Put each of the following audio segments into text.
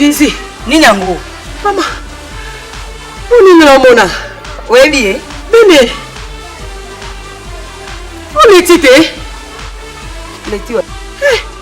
Jésus, nini yango? Mama, mpo nini namona? Oyebi ye? Bene, oleti te? Leti wa. Eh,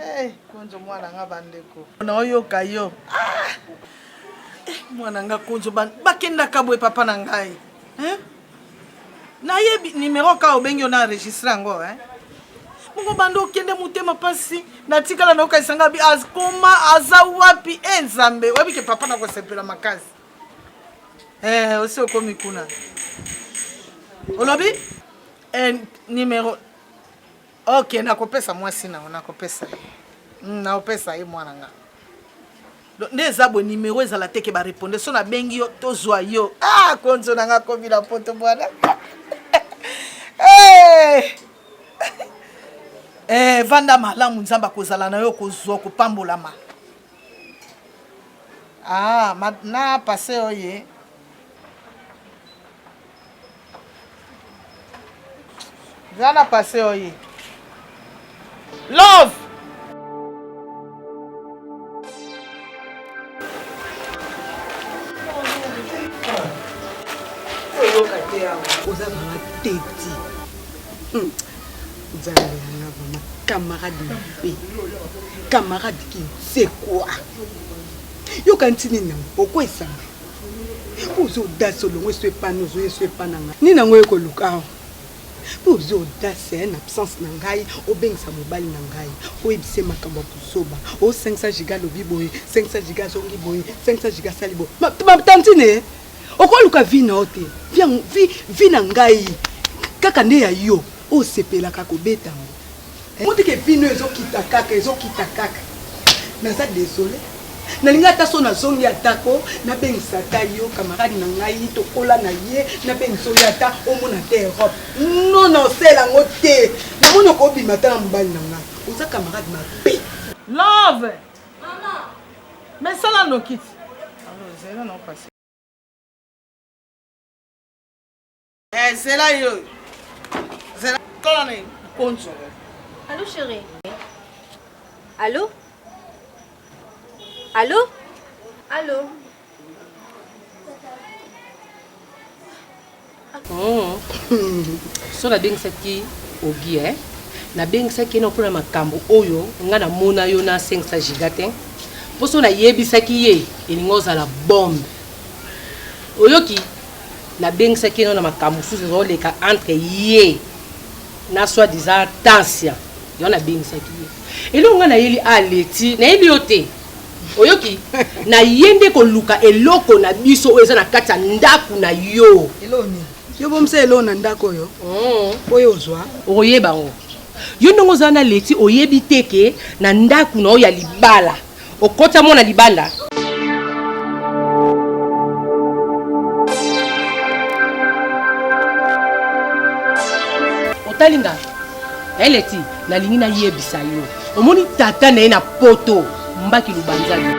Eh, konzo mwana nga bandeko. Na oyoka yo. Ah! Eh, mwana nga konzo ba bakendaka boye papa na ngai. Hein? Nayebi numéro ka obengi yo na enregistre yango, hein? Bongo banda okende motema mpasi natikala na yokanisa ngai bi akoma aza wapi e eh, nzambe oyebi ke papa nakosepela makasi eh, osi okomi kuna olobi eh, numero Ok, nakopesa mwasi na yo, nakopesa ye. Mm, nakopesa ye mwana nga. Donc, nde eza boye numero ezala te ke bareponde so nabengi yo tozwa yo ah, konzo na nga komi na poto bwana hey! Eh! eh, vanda malamu nzambe akozala na yo kozwa kopambolama ah, na pase oye Zana passé oye. Love. oza mama teti hmm. nzambe yanga mama camarade mabe camarade kinsekwa yoka ntinini yango okwesama oza audace olongo eso epana ozoya eso epana ngai nini yango oye koluka awa mpo oza audace eh, na absence na ngai obengisa mobali na ngai oyebisa ye makambo ya kozoba o 500 giga alobi boye 500 giga azongi boye 500 giga asali boye matantine eh. okoluka vi na yo te vi na ngai kaka nde ya yo osepelaka kobeta yango Omoni ke bino ezo kita kaka ezo kita kaka naza desole nalingi ata so nazongi atako nabengisa ata yo kamarade na ngai tokola na ye nabengisa oyo ata omona te europe no na osela yango te namoni okobima ata na mobali na ngai oza kamarade mabe love mais sala nokiti Eh, zela yo. Zela kola na konzo. Allô chérie. Allô Allô Allô oh. so nabengisaki ogi e nabengisaki ye na mpona makambo oyo ngai namona yo na 500 giga te mpo so nayebisaki ye elingi ozala bombe oyoki Nabengisaki ye no na makambo mosusu ezoleka entre ye na soit disant Tansia. Yango nabengisaki ye. Eloko ngai nayeli a leti, nayebi yo te. Oyoki? Na ye nde koluka eloko na biso oyo eza na kati ya ndako na yo. Eloko nini? Yo bomisa eloko na ndako oyo. Oh. Po yo ozwa. Okoyeba yango. Yo ndenge oza na leti oyebi te ke na ndako na yo ya libala. Okota mwana libanda. Otali nga. Eleti, nalingi nayebisa yo. Omoni tata na ye na poto, mbaki lubanzani.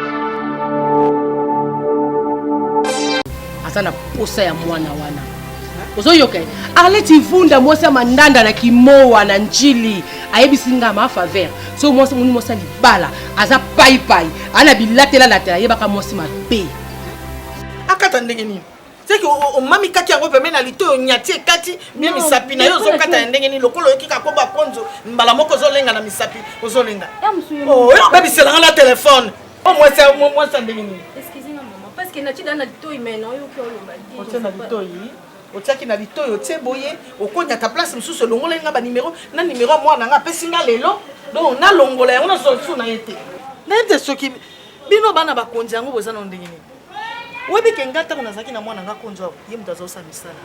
Aza na posa ya mwana wana. ozoyoka arleti vunda mwasi ya mandanda na kimowa na njili ayebisi nga ma faveur so mwasi moni mwasi ya libala aza paipai aa na bilatela latela ayebaka mwasi mabe akata ndenge nini seke omami kati yango peme na lito onyati ekati mpe misapi na yo ozokata ya ndenge nini lokola oyoki kakoba konzo mbala moko ozolenga na misapi ozolenga oh, oyo obebiselanga na telefone o oh, mwasi ya ndenge nini na litoi mena oyoki oloba te na litoi Otiaki na litoyi otie boye okonyata place mosusu olongolaki nga ba numero na numero ya mwana nga apesi nga lelo donc nalongola yango nazwa lisusu na ye te nayebi te soki bino bana bakonzi yango boza nao ndenge nini oyebi ke ngai ntango nazalaki na mwana nga konzi awa ye moto azosala misala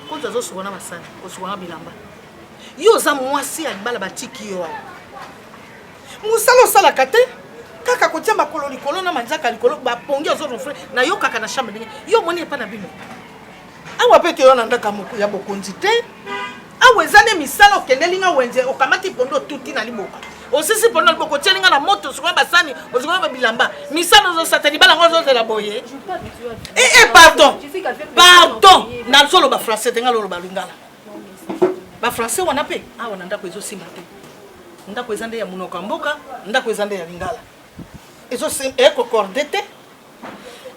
konzi azosuka na masani kosuka na bilamba yo oza mwasi ya libala batiki yo awa Musala osalaka te kaka kotia makolo likolo na manzaka likolo ba pongi ozo rofle na yo kaka na chambre ndenge yo moni epa na bino awa pe toyo na ndaka moko ya bokonzi te awa eza nde misala okendeli nga wenze okamati pondo otuti na liboka osisi pondo na liboka otieli nga na moto osukoli basani osukoli babilamba misala ozosata libala ngo ozozela boye e e pardon pardon nazoloba français te nga loloba lingala ba français wana mpe awa na ndako ezosimba te ndako eza nde ya monoko ya mboka ndako eza nde ya lingala ekokorde te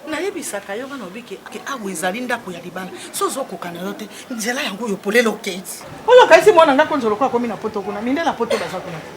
nayebisaka yo bana obike ke awa ezali ndako ya libala so ozokoka na yo te nzela yango oyo polele okei oyo okaisi mwana ndako nzolokoa akomi na poto kuna mindela poto baza kuna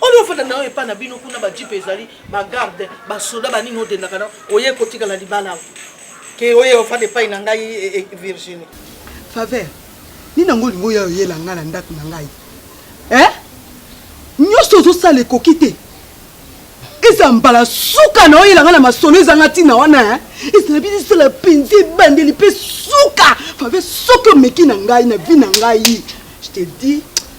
oyo ofanda na yo epai na bino kuna bajipe ezali bagarde basoda banini odendaka na oye kotikala libala awa ke oye ofanda epai na ngai e, e, virginie faveur nini yango olingi oya oyela ngai na ndako na ngai eh? nyonso ozosala ekoki te eza mbala suka na oyela ngai na masolo ezanga ntina wana eh? ezala bino esala mpenza ebandeli mpe suka faveur soki omeki na ngai na vi na ngai je te dis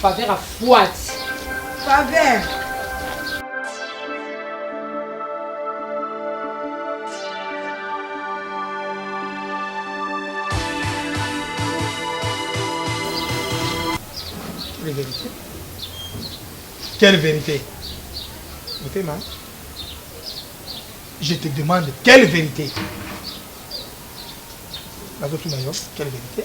Faveur afuati. Faveur. les vérités. Quelle vérité Motema, je te demande quelle vérité Quelle vérité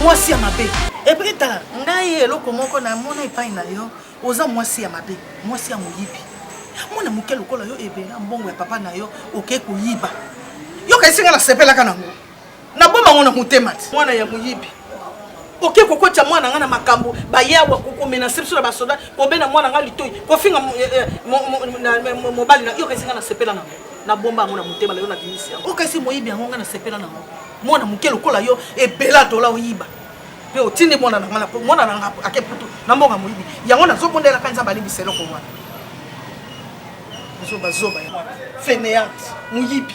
mwasi ya mabe epui tala ngai eloko moko namona epai na yo oza mwasi ya mabe mwasi ya moyibi mwana moke lokola yo ebela mbongo ya papa na yo okei koyiba yo kaisi ngai nasepelaka nango naboma yango na motema ti mwana ya moyibi oke kokotya mwana nga na makambo baye awa kokomenase biso na basoda kobenda mwana nga litoi kofinga eh, eh, mobali na yoka esinga nasepela nango nabomba yango na motema lelo na bimisi yango oka esi moyibi yango nga nasepela nango mwana moke lokola yo ebela dola oyiba mpe otindi mwana na nga mwana na nga ake putu na mboka moyibi yango nazobondelaka nzambe alimbisa eloko wana zobazoba ya feneante moyibi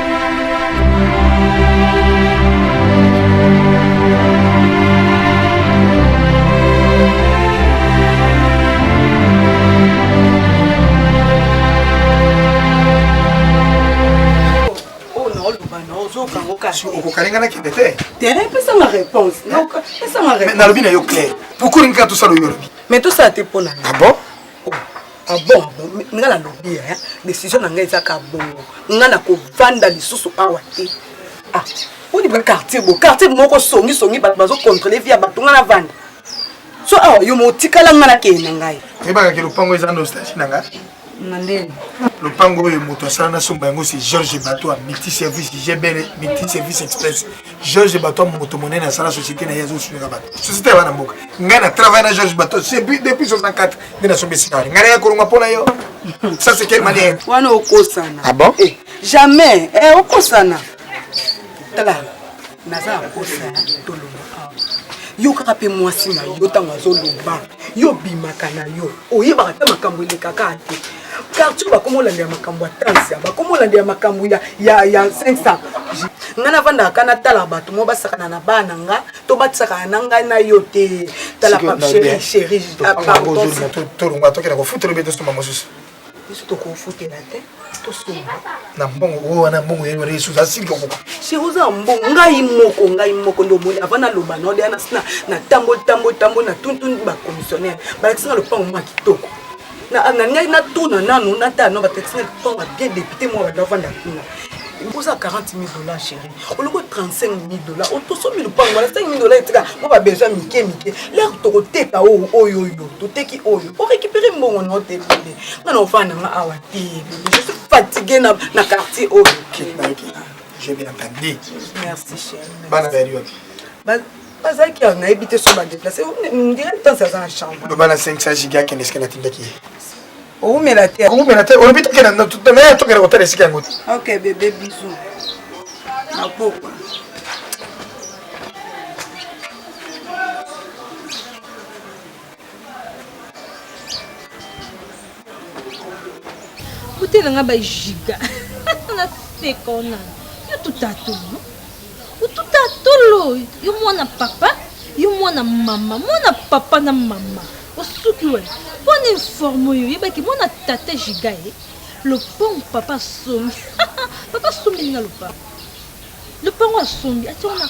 okokalinga na kende te pesanga réponse nalobi na yo claire pourkoi olingi kaka tosala oyo olobi mais tosala te mpo na ah bon Ah bon, nga na lobi ya eh, decision na nga eza ka bongo nga na kovanda lisusu awa te ah odi ba quartier bo quartier moko songi songi bato bazo contrôler vie ya bato nga na vanda so awa yo motikala nga na kende na ngai oyebaka ke lopango eza nostalgie na nga na ndeni lopango oyo moto asala na somba yango si george bato ya multi service gbl multi service express Georges Bato moto monene asala société na ye azosunga bato société ya bana mboka ngai na travaille na Georges Bato depuis 64 nde nasombi esika wana ngai naya kolonga mpo na yo ça c'est quel manière wana okosana ah bon eh, jamais eh, okosana tala naza akosana tolonga yo kaka mpe mwasi na yo ntango azoloba yo obimaka na yo oyebaka mpe makambo elekaka te quartier bakoma olandela makambo ya tansia bakoma olandela makambo ya 500 ngai navandaka ka natala bato mo basakana na bana nga to batisakana na ngai na yo te tala papsherisheriatolonga tokenda kofutela obe tosomba mosusu biso tokofutela te tosomba na mbongo oyo wana mbongo yeni wana yesu asili kokoka sheri oza mbongo ngai moko ngai moko nde omoni avant naloba node ana natamboli tamboli tamboli na tuntuni bacommissionnaire balakisi nga lopango mwa kitoko nalingai natuna nanu natala no batekisi na tonga bien depute moko banda ofanda kuna oza 40 000 dollars chéri oloko 35 000 dollars otosomi lupango wana 5 000 dollars etika mpo babesoin mike mike lere tokoteka oyo oyo oyo toteki oyo orécupere mbongo nao te bebe nga na ofanda nga awa te bebe je suis fatigue na, na quartier oyo je vais la Merci, chérie. Bonne période. bazalaki awa nayebi te so badeplace ndire ntansi aza na chambre loba na 500 giga akende esika natindaki ye owumela te owumela te olobi tokenda naye tokenda kotala esika yango te ok bebe bisu na pokwa otela nga bajiga na sekona yo tutatulu otutatulu yo mwana papa yo mwana mama mwana papa na mama osuki we mpo na informe oyo oyebaki mwana tata jiga ye lopango papa asombi papa asombi nga lopango lopango asombi ationa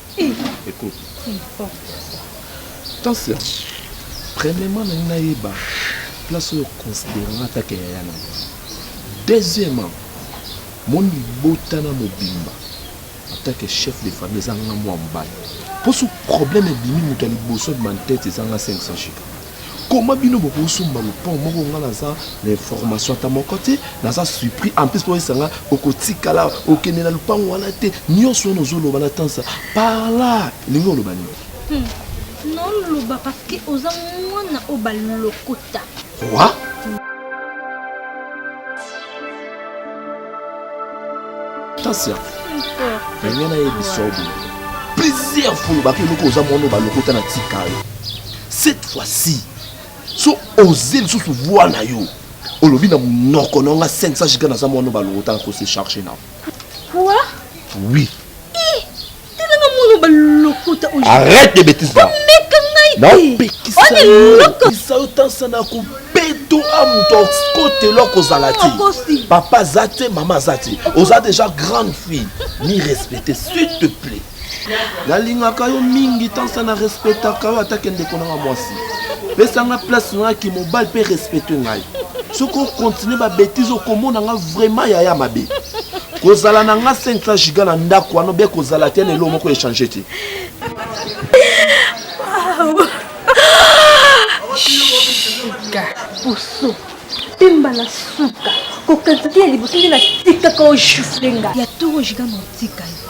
Écoute. Tansia, premièrement na ngai yeba place oyo considérant ata ke yaya na ngai. Deuxièmement, mon libota na mobimba en tant que chef de famille eza nga mwa mobali. Poso problème ebimi moto ya liboso abima na tete eza nga 500 chiffres. Comment bino bokoki somba lupon moko nga naza na information ata moko te naza surpris en plus oyebisa nga okotikala okende na lupangu wana te nyonso wana ozoloba na tansa parla elingi oloba nini hmm. noloba parce que oza mwana oyo balokota wa tansa ndenge nayebisa obo plusieurs fois olobaka eloko oza mwana oyo balokota na tikayo Cette fois ci so oze lisusu voix na yo olobi na munoko na nga 500 giga naza mwana balokota ko se charger na quoi oui telanga mwana balokota oyo arrête de bêtises là omeka ngai naopekisa yo tansa na ko to a moto akotelo akozala te papa aza te mama aza te oza déjà grande fille ni respecte s'il te plaît Nalingaka yo mingi tant ça na respectaka yo ata ke ndeko nanga mwasi. Pesa nga place na ki mobile pe respecte ngai. Soki o continuer ba bêtises okomona nga vraiment yaya mabe. Kozala na nga 500 giga na ndako wana bien kozala te na elo moko echange te. Giga poso pemba na suka kokanisa te ya liboso nde natikaka ojufle nga ya toro giga na otika yo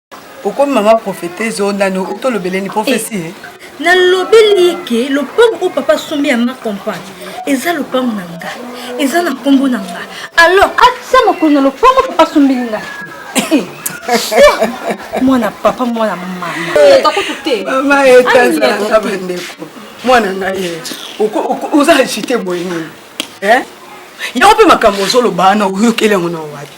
okomi mama prophetese oyo nani outi olobeleni profesi eh, nalobeli ye ke lopango oyo papa asombi ya ma compagne eza lopango na nga eza na nkombo na nga alors atya makolo na lopango papa asombeli nga eh, mwana papa mwana mama takutu te mama etazalaka bandeko mwana ngai ye oza agite boye nini yango mpe makambo ozoloba wana oyokeli yango na wapi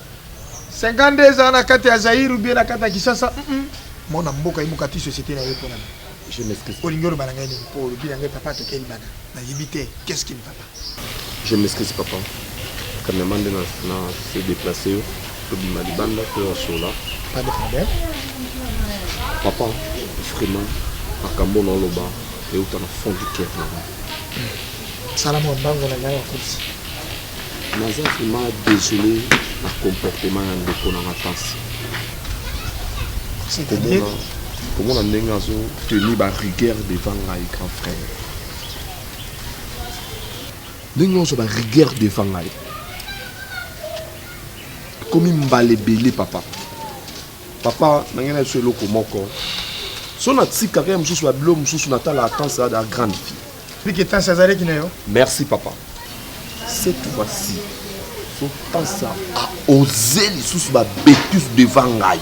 52 eza na kati ya Zaïre ou bien na kati ya Kisasa mm -mm. mwana mboka yemuka ti société na ye pona je m'excuse olingi oloba na ngai nini po olobi na ngai papa tokeli bana nayebi te qu'est-ce qui ne va pas je m'excuse papa kamema nde na se déplace yo tobima libanda to ya sola pas de problème papa vraiment makambo na oloba euta na fond du cœur na ngai sala mwa mbango na ngai ya kursi Naza vraiment desole na comportement ya ndeko na nga Tansy. Komona, komona ndenge azo tenir ba rigueur devant ngai grand frère. Ndenge ozo ba rigueur devant ngai. Komi mbala ebele papa. Papa na ngai na biso eloko moko. So na tika kaka mosusu ba bilo mosusu na tala Tansy da grande fille. Pique tansi azalaki na yo. Merci papa. Cette fois-ci, Sotansi a osé lisusu ba bêtises devant ngai.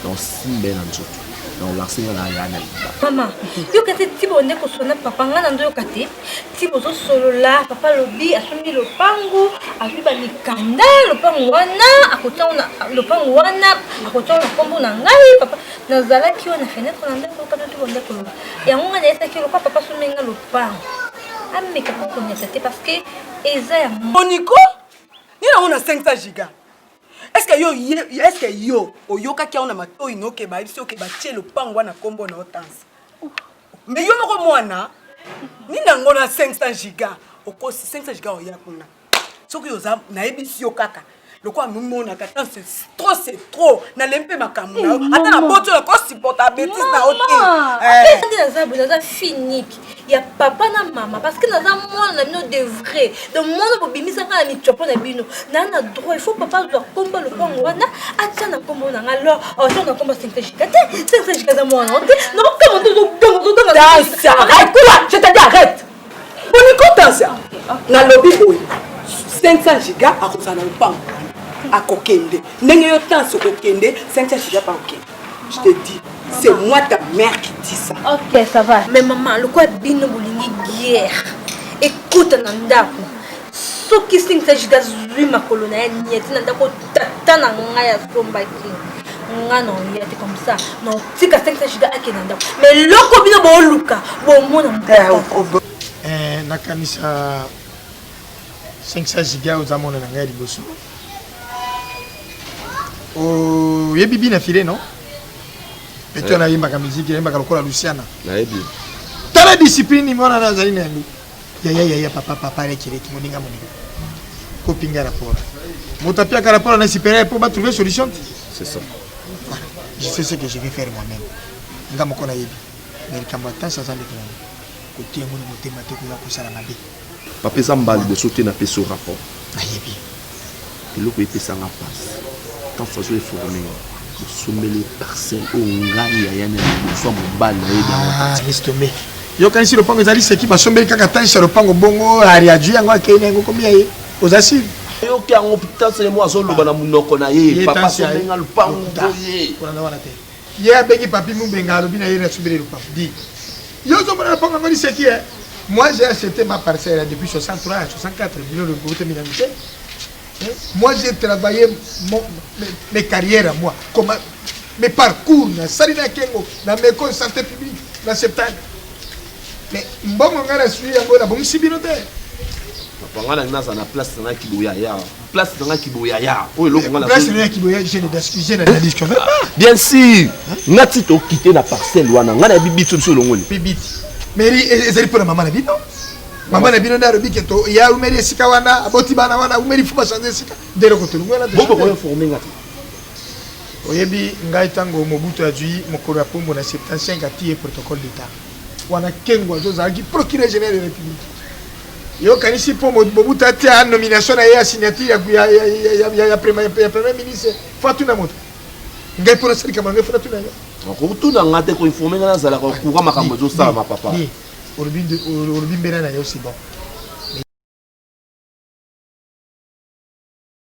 Donc simba na nzoto. Donc lancer nga na ya na liba. Mama, yoka te tibo nde kosona papa nga na ndo yoka te. Tibo zo solola, papa lobi asombi lopango, azwi ba mikanda, lopango wana akotia na lopango wana akotia na kombo na ngai papa. nazalaki oyo na fenetre na ndako yoka noki bonde koloba yango ngai nayesaki lokwa papa somi nga lopango ameka kokonyata te parce que eza ya moniko nini yango na 500 giga eske yo eske yo oyokaki yango na matoi noke bayebisi oke batie lopango wana nkombo na otansi me yo moko mwana nini yango na 500 giga okosi 500 giga oya kuna soki oza nayebisi yo kaka lokola nomonaka tan se trop se trop nalembi mpe makambo na yo eh, ata na boti oyo kosupporta betise na yo te apesa nde naza boye naza finike ya papa na mama parce que naza mwana na bino de vrai donc mwana bobimisaka na mitiopo na bino naa na droit ifaut papa azwa kombo lopango wana atya na kombo na nga lor aotya oh, na kombo sentejika te sentejika eza mwana te naokama nde ozodonga ozodonga arrête toi je te dis arrête bonikotansa nalobi boye 500 giga akozala na lopango akokende ndenge yo tansi okokende 500 giga pa okende je te dis c'est moi ta mère qui dit ça ok ça va mais maman lokola bino bolingi guerre ekota na ndako soki singisa jida zwi makolo na ye nieti na ndako tata na ngai asombaki nga na oya te comme ça na otika singisa jida akenda ndako ma eloko bino booluka bomona mpo eh, nakanisa singisa jida oza mona na ngai liboso oyebi bina file non pete wana eh. ayembaka miziki ayembaka lokola luciana nayebi tala discipline mwana na azali na yango Yaya yaya papa papa leki leki moninga moninga kopinga rapport moto apiaka rapport na supérieur mpo batrouve solution te c'est ça voilà je sais ce que je vais faire moi-même nga moko nayebi mais likambo atansi aza ndeko nango kotia yango na motema te koya kosala mabe papa eza mbala liboso te napesi yo rapport nayebi Eloko epesa nga pasi quand façon eforme nga bosombeli ye parcelle oyo ngai yaya na liboso ya mobali na ye dangoistome ah, yokanisi lopango ezali seki basombeli kaka tanisa lopango bongo ariaju yango akei na yango komi ya ye oza sire oyoki yango tanselemo azoloba na monoko na ye papa sombeli nga lopango boye Ye abengi papy mubenga alobi na ye na sombeli le papy dit yo ozo mona lopango yango liseki eh moi j'ai acheté ma parcelle depuis 63 à 64 bino le bote mina mite moi j'ai travaillé mon, mes, mes carrières à moi comment mes parcours na sali na kengo na meko santé publique na septane mais mbongo ngai na sui yango na bongisi bino te papa ngai na ngai naza na place na kiboya ya place na nga kiboyaya oyo eloko nga place na kiboyaya je ne je ne dis que bien sûr nga ti to quitter na parcelle wana nga na bibi biso biso longoli bibi meri ezali pona mama na bino mama na bino nde alobi ke to ya umeli esika wana aboti bana wana umeli fo bachange esika nde eloko tolongi wana bokokoinforme nga te oyebi ngai ntango mobutu azwi mokolo ya pombo na 75 atiye protocole d'état Wana Kengo azo zalaki procureur general de la République. Yo kanisi po Mobutu atia nomination na ye ya signature ya ya ya ya ya ya premier ya premier ministre Fatou na moto. Ngai pona sali kamanga fona tuna yo. Okotuna nga te ko informer nga nazala ko courant makambo ezo sala ma papa. Olobi olobi mbela na yo c'est bon.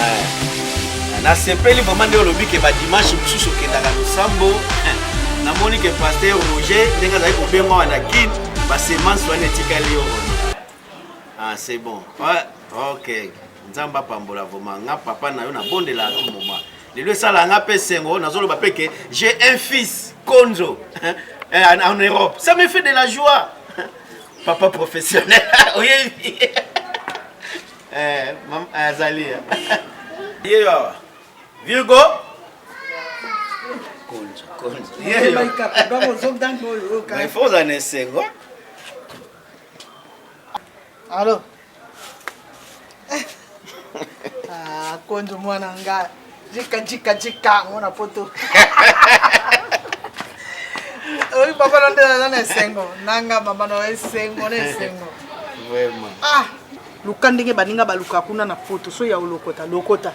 Eh, nasepeli vraimen nde olobi ke badimanche mosusu okendaka losambo eh, namoni ke paster roger ndenge azali kobengwa wana guide basemance wana etikali yo ah, c'est bon ah, ok nzambe apambola vraimen nga papa na yo nabondela a tout moment lelo esala nga mpe sengo nazoloba mpe ke j'ai un fils konzo eh, en europe ça me fait de la joie papa professionnel oyebi Eh, mam eh, azali. Yeyo awa. Virgo. Konja, konja. Yeyo. Mais faut en essayer. Allô. Ah, konja mwana ngai. Jika jika jika mwana poto. Oyi papa na ndela na esengo. Nanga mama na esengo na esengo. Vraiment. Ah, luka ndenge baninga baluka kuna na poto so ya olokota lokota.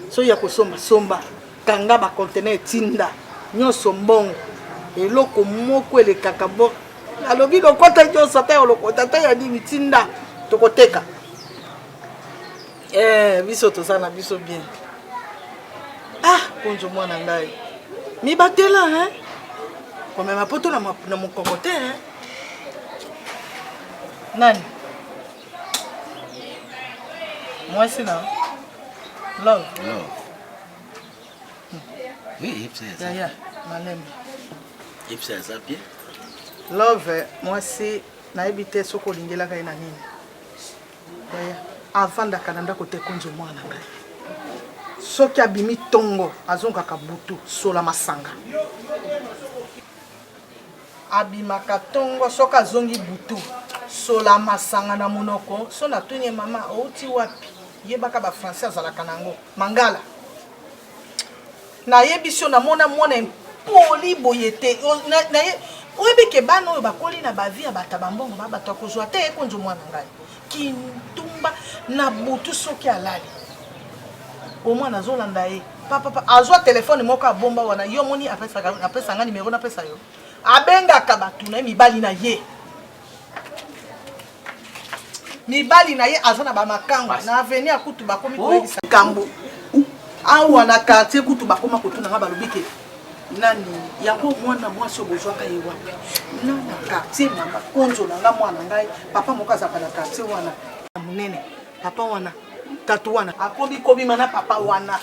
So ya kosomba somba. Kanga ba conteneur tinda. Nyonso mbongo. Eloko moko elekaka bo. Alobi lokota nyonso ata ya olokota ata ya nini tinda tokoteka. Eh, biso toza na biso bien. Ah, konjo mwana ngai. Mibatela hein. Komema poto na na mokoko te hein. Nani? Mwasi na Love. Love. Hmm. Oui, yepsa ya. Ya ya, malembe. Yepsa ya zapie. Love, mwasi nayebi te soki olingelaka ye na nini. Yaya avandaka na ndako te konzo mwana na ngai. Soki abimi tongo azongaka butu sola masanga. Abimaka tongo soki azongi butu sola masanga na monoko so na tuni ye mama outi wapi yebaka ba français azalaka na yango mangala Nayebisi yo namona mwana impoli boye te oyebi ke bana oyo bakoli na ba vie ya bato ya ba mbongo ba bato ya kozwa ata ye konzo mwana ngai kindumba na butu soki alali omwana azolanda ye papapa azwa telefone moko abomba wana yo omoni apesa ngai nimero napesa yo abengaka bato na ye mibali na ye mibali na ye aza na bamakango na aveni ya kutu bakomi koyebisa kambo awa na quartier kutu bakoma kotuna nga balobi ke nani yango mwana mwasi oyo bozwaka ye wapi na na quartier na makonzo na nga mwana ngai papa moko azalaka na quartier wana ya monene papa wana tatu wana akomi kobima na papa wana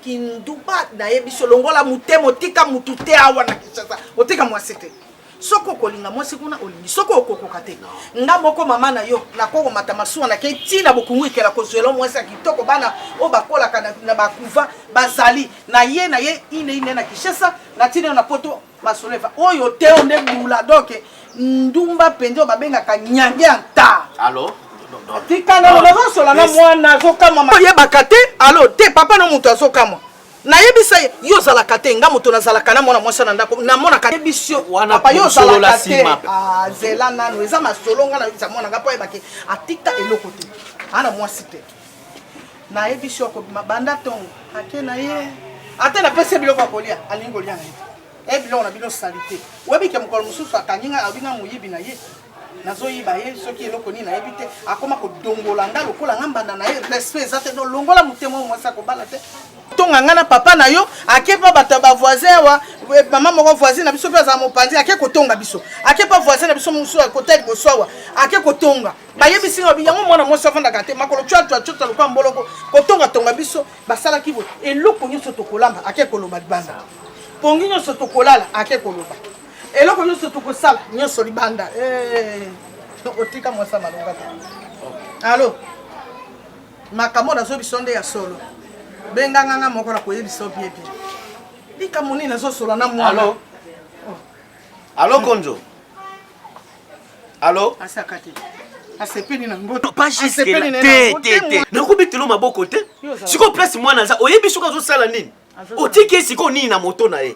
kinduba nayebi so longola motema otika motu te awa na kinshasa otika mwasi te soki okolinga mwasi kuna olingi soki okokoka te nga moko mama na yo nakokomata masuwa nakei ti na bokungu ikela kozwela mwasi ya kitoko bana oyo bakolaka na, na bakuva bazali na ye na ye ine ine na kishasa na ntina yo na poto masolo eva oyo te o nde bula doke ndumba mpenza oyo babengaka nyange ya nta alo tikanga nazosola na mwana azokamwa oyebaka te alo te papa na moto azokamwa nayebisa ye yo ozalaka te nga moto nazalaka na mwana mwasi na ndako namonaka yebisi yo papa yo ozalaka te ah, zela nano eza masolo nga nayebisa mwana nga mpo ayebaki atika eloko te ana mwasi te nayebisi yo akobima banda ntongo ake na ye ata napesi ye biloko ya kolia alingi kolia na ye e biloko na bino salite oyebi ke mokolo mosusu akangi ngai abinga moyibi na ye nazoyiba ye soki eloko nini nayebi te akoma kodongola nga lokola nga mbanda na ye respect eza te donc longola motema oyo mwasi akobala te tonga nga na papa na yo ake mpa bato ya bavoisin awa eh, mama moko voisin na biso mpe azala mopanzi ake kotonga biso ake mpa voisin na biso mosusu akota liboso awa ake kotonga bayebisi nga yango mwana mwasi afandaka te makolo cwacwacota lokola mboloko kotongatonga biso basalaki boye eloko nyonso tokolamba ake koloba libanda pongi nyonso tokolala ake koloba eloko nyonso tokosala nyonso libanda eh, otika mwasi ya malonga te alo makambo nazo biso nde ya solo benganganga moko na koyebisa obiebie likambo nini nazosola na mwana alo alo konzo alo asaka te asepeli na ngo pas jusque là te te te nakobetelo maboko te sikoyo place mwana aza oyebi soki azosala nini otiki ye sikoyo nini na moto na ye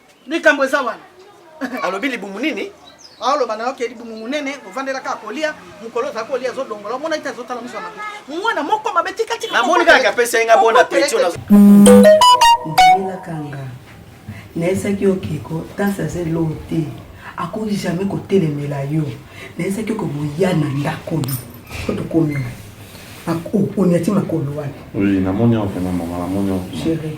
likambo eza wana alobi libumu nini aoloba na yo ke libumu monene ovandela kaka kolia mokolo ozala kolia azodongola omona ete azotala mosu ya mabe mwana moko mabe tikatika namoni kaka apesa ye nga bona petio nazomelakanga nayesaki yo keko tasi aza eloo te akoki jamais kotelemela yo nayesaki oko boya na ndako yo po tokomi onyati makolo wana oui namoni yango pena mama namoni yango chérie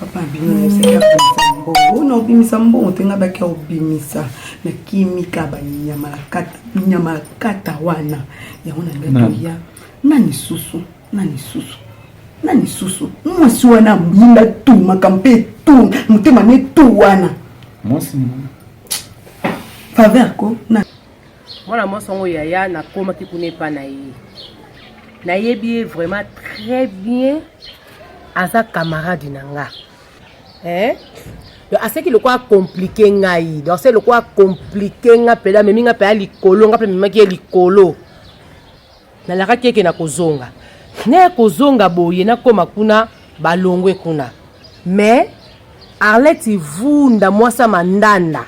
papa bino yoseka bimisa mbongo ona obimisa mbongo te nga baki obimisa na kimika banyama na kata nyama na kata wana yango na ngai ya na lisusu na lisusu na lisusu mwasi wana abinda tu makambo mpe tu motema ne tu wana mwasi faveur ko na mwana mwasi yango yaya nakomaki kuna epa na ye nayebi ye vraiment très bien aza camarade na nga eh? donc aseki lokola komplike ngai donc aseki lokola komplike nga mpela amemi nga mpela likolo nga mpe amemaki ye likolo nalakaki eke na kozonga naye kozonga boye nakóma kuna balongwe kuna mais arlette vunda mwasi ya mandanda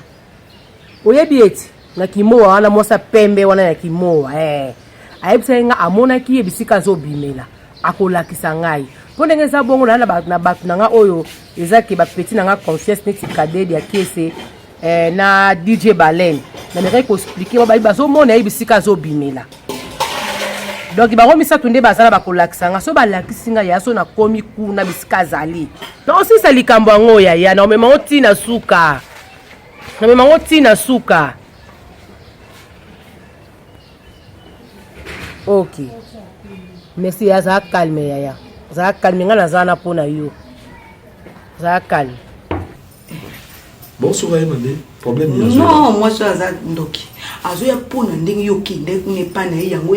oyebi ete na kimowa wana mwasi ya pembe wana ya kimowa eh. ayebisaki nga amonaki ye bisika azobimela akolakisa ngai mpo ndenge eza bongo na na bato na ngai oyo eza ke bapeti na ngai confiance neti kadede ya kiese eh, na dj balen namekaki koexplike babayi bazomona ye bisika azobimela donk bango misato nde baza na bakolakisa ngai so balakisi ngai ya so nakomi kuna bisika azali naosisa likambo yango yaya naomema ngo ntina suka namema yango tii na suka ok merci ya azala calme yaya azala calme ngai naza wana mpo na yo azala calme bosoka ye mabe problème non mwasi oyo aza ndoki azoya mpo na ndenge yo okende kuna epai na ye yango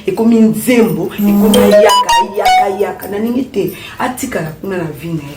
ekomi nzembo ekomi ayaka ayaka ayaka na ndenge te atikala kuna na vi na ye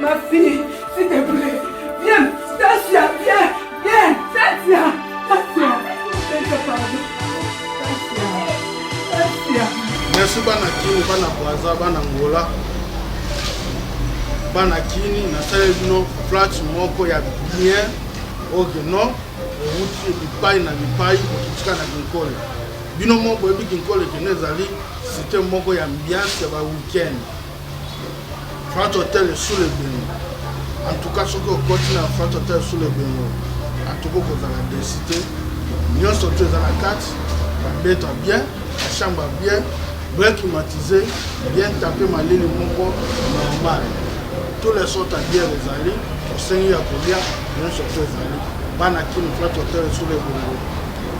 Ma fille, s'il te plaît, viens, Stasia, viens, viens, Stasia, Stasia, Stasia, pardon. Stasia, Stasia. Merci bana kini, bana Brazza, bana Angola. Bana kini, nasali bino plat moko ya bien oyo no ewuti bipai na bipai kokitika na kinkole bino moko boyebi kinkole kino ezali site moko ya ambiance ya ba weekend France Hotel Sule Bengo. En tout cas, soki okoti na France Hotel Sule Bengo, en tout cas okozala desi te. Nyonso tu eza na kati, babeto bien, bachambre bien, bien climatisé, bien tapé malili moko normal. Tous les sortes ya bière ezali, osengi ya kolia, nyonso tu ezali. Bana kini France Hotel Sule Bengo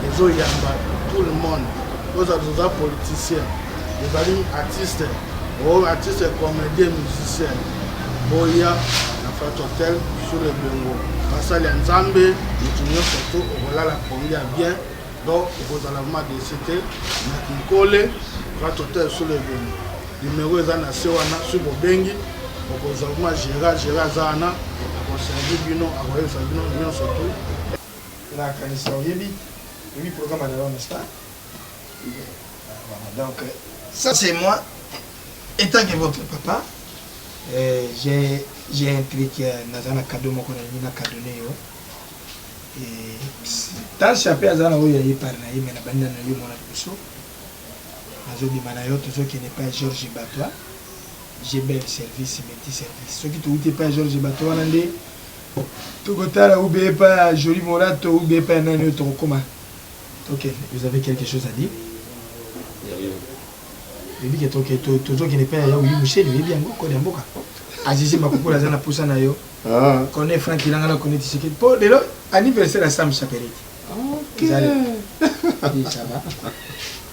ezoyamba tout le monde. Oza oza politicien. Bozali artiste, bo artiste comedien musicien, boya na Fat Hotel sur le Bengo. Basali ya Nzambe, moto nyonso to okolala pongi ya bien, donc okozala vraiment desi te. Na Kinkole, Fat Hotel sur le Bengo. Numero eza na se wana, soki bobengi okozwa vraiment gera, gera aza wana akoservi bino, akoyebisa bino nyonso tu. Nakanisa oyebi, oyebi programme ya Leon Star. Donc, ça c'est moi, étant que votre papa, euh, j'ai un truc, euh, nazana cadeau moko na nina cadeau nayo. Et tant chape azana oyo yaye par na ye, mais na banda na yo mona liboso. Nazo bima na yo, tozo kende pa Georges Batois. J'ai bel service, meti service. Soki touti pa Georges Batois wana nde tokotala ube pa Jolie Molato ube pa nani oyo tokokoma. Ok vous avez quelque chose à dire? Oyebi ke toke tozo kende epai ya ya Willy Mushele oyebi yango code ya mboka. Azizi Makukula aza na posa na yo. Ah. Kone Frank Ilanga na Kone Tshisekedi po lelo anniversaire ya Sam Chaperite. Ok. Eza lelo. Oui ça va.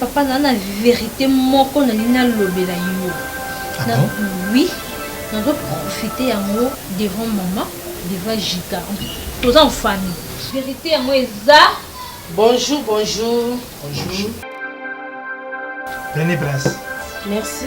Papa na na verite moko na lingi na lobela yo ah na oui na zo profiter yango devant maman devant Jika toza en famille verite yango eza bonjour bonjour bonjour prenez place merci